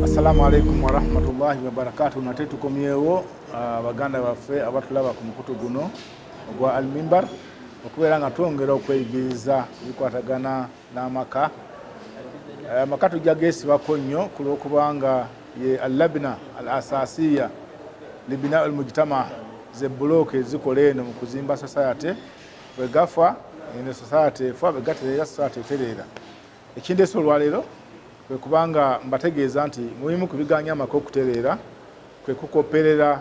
Assalamu alaikum warahmatullahi wabarakatuh. Nate tukomyewo uh, baganda baffe abatulaba ku mukutu guno ogwa Almimbar okubeera nga twongera okweyigiriza ebikwatagana n'amaka eh, amaka tujja geesibako nnyo ku lw'okubanga ye allabina al asasiya libina al mujtama ze bulooka ezikola eno mu kuzimba society bwe gafa eno society efa bwe gatereera society etereera ekindeesa olwaleero kwe kubanga mbategeeza nti mubimu ku biganya amaka okutereera kwe kukopperera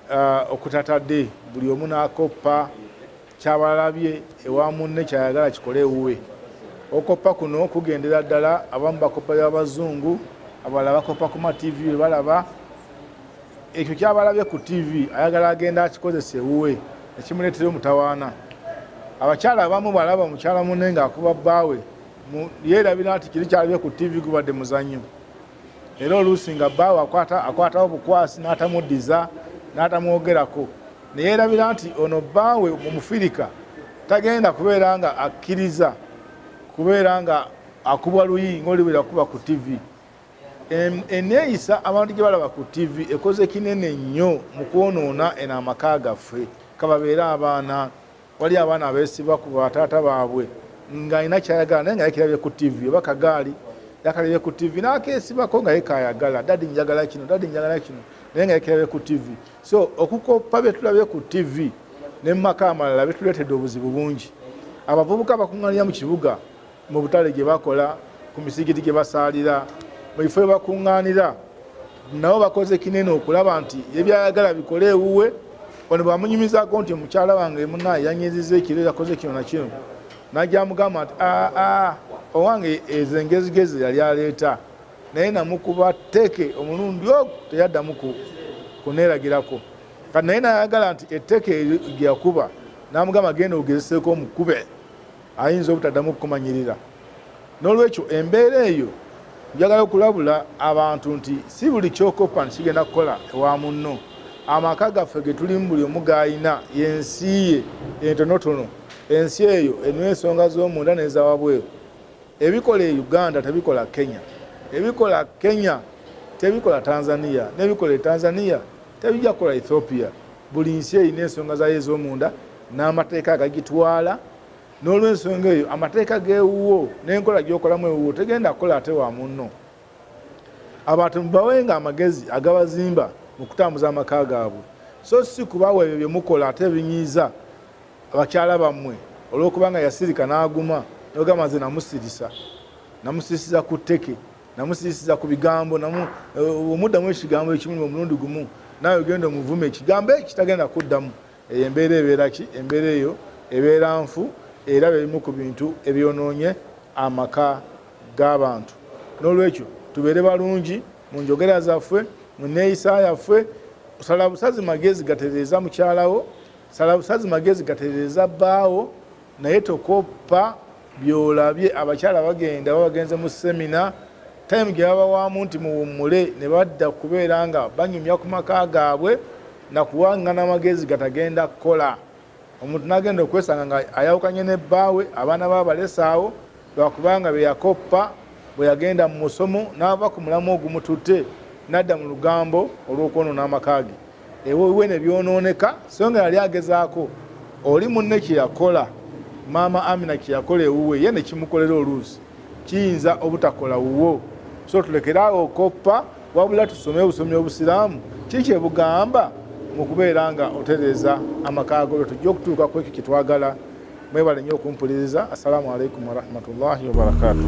uh, okutatadde buli omu n'akoppa Kyabalabye ewa munne kyayagala kikole ewuwe. Okoppa kuno kugendera ddala abamu bakoppa by'Abazungu, abalala bakoppa ku ma TV bye balaba. Ekyo kyabalabye ku TV ayagala agenda akikozesa ewuwe ne kimuleetera omutawaana. Abakyala abamu bw'alaba mukyala munne ng'akuba bbaawe yeerabira nti kiri kyalabye ku TV gubadde muzannyo. Era oluusi nga bbaawe akwatawo bukwasi n'atamuddiza n'atamwogerako. ne yeerabira nti ono bbaawe Omufirika tagenda kubeera nga akkiriza kubeera nga akubwa luyi ng'oli bwe yakuba ku ttivi. Enneeyisa abantu gye balaba ku ttivi ekoze kinene nnyo mu kwonoona eno amaka gaffe, kababeere abaana, Wali abaana abeesiba ku bataata baabwe ng'alina kyayagala naye nga yekirabye ku ttivi oba kagaali yakalabye ku ttivi n'akeesibako nga yekaayagala dadi njagala kino dadi njagala kino naye nga yekirabye ku ttivi so okukoppa bye tulabye ku ttivi ne mu maka amalala bituleetedde obuzibu bungi abavubuka bakuŋŋanira mu kibuga mu butale gye bakola ku misigiti gye basaalira mu bifo byebakuŋŋaanira nabo bakoze kinene okulaba nti ebyayagala bikole ewuwe ono bwamunyumizaako nti omukyala wange muna yanyiziza ekiro yakoze kino nakino najamugamba nti aa owange ezo engezigezi yali aleeta naye namukuba teke omulundi ogwo teyaddamu kuneeragirako kati naye nayagala nti etteke gyeyakuba namugamba genda ogezeseeko omukube ayinza obutaddamu kukumanyirira n'olwekyo embeera eyo njagala okulabula abantu nti si buli kyokoppa nti kigenda kukola ewa munno amaka gaffe getulimu buli omu gaalina yensi ye entonotono ensi eyo enu ensonga z'omunda n'ezawabweru ebikola e uganda tebikola kenya ebikola kenya tebikola tanzania n'ebikola e tanzania tebijja kukola ethiopia buli nsi erina ensonga zayo ez'omunda n'amateeka agagitwala n'olwensonga eyo amateeka g'ewuwo n'enkola gy'okolamu ewuwo tegenda kukola ate wa munno abantu mubawenga amagezi agabazimba mu kutambuza amaka gaabwe so si kubawa ebyo bye mukola ate ebinyiiza abakyala bammwe olw'okuba nga yasirika n'aguma nogamba nze namusirisa namusirisiza ku tteke namusirisiza ku bigambo eh, omuddamu ekigambo ekimu omulundi gumu naawe ogenda omuvuma ekigambo ekitagenda kuddamu Eyo embeera ebeera ki? Embeera eyo ebeera nfu era bye bimu ku bintu ebyonoonye amaka g'abantu. N'olwekyo tubeere balungi mu njogera zaffe, mu nneeyisa yaffe. Sala busazi magezi gatereeza mukyala wo, sala busazi magezi gatereeza bbaawo, naye tokoppa byolabye abakyala bagenda babagenze mu semina time gyebabawaamu nti muwummule ne badda kubeera nga banyumya ku maka gaabwe nakuwangana amagezi gatagenda kukola omuntu nagenda okwesanga nga ayawukanye ne bbaawe abaana be abalesaawo lwakubanga bye yakoppa bwe yagenda mu musomo n'ava ku mulamwa ogumututte n'adda mu lugambo olw'okwonoona amaka ge ewuwe ne byonooneka so nga yali agezaako oli munne kye yakola maama Amina kye yakola ewuwe ye ne kimukolera oluusi kiyinza obutakola wuwo so tulekere awo okoppa wabula tusome obusomi obusiraamu ki kye bugamba mu kubeera nga otereeza amaka ago lwe tujja okutuuka ku ekyo kye twagala mwebale nnyo okumpuliriza assalamu alaikum warahmatullahi wabarakatuh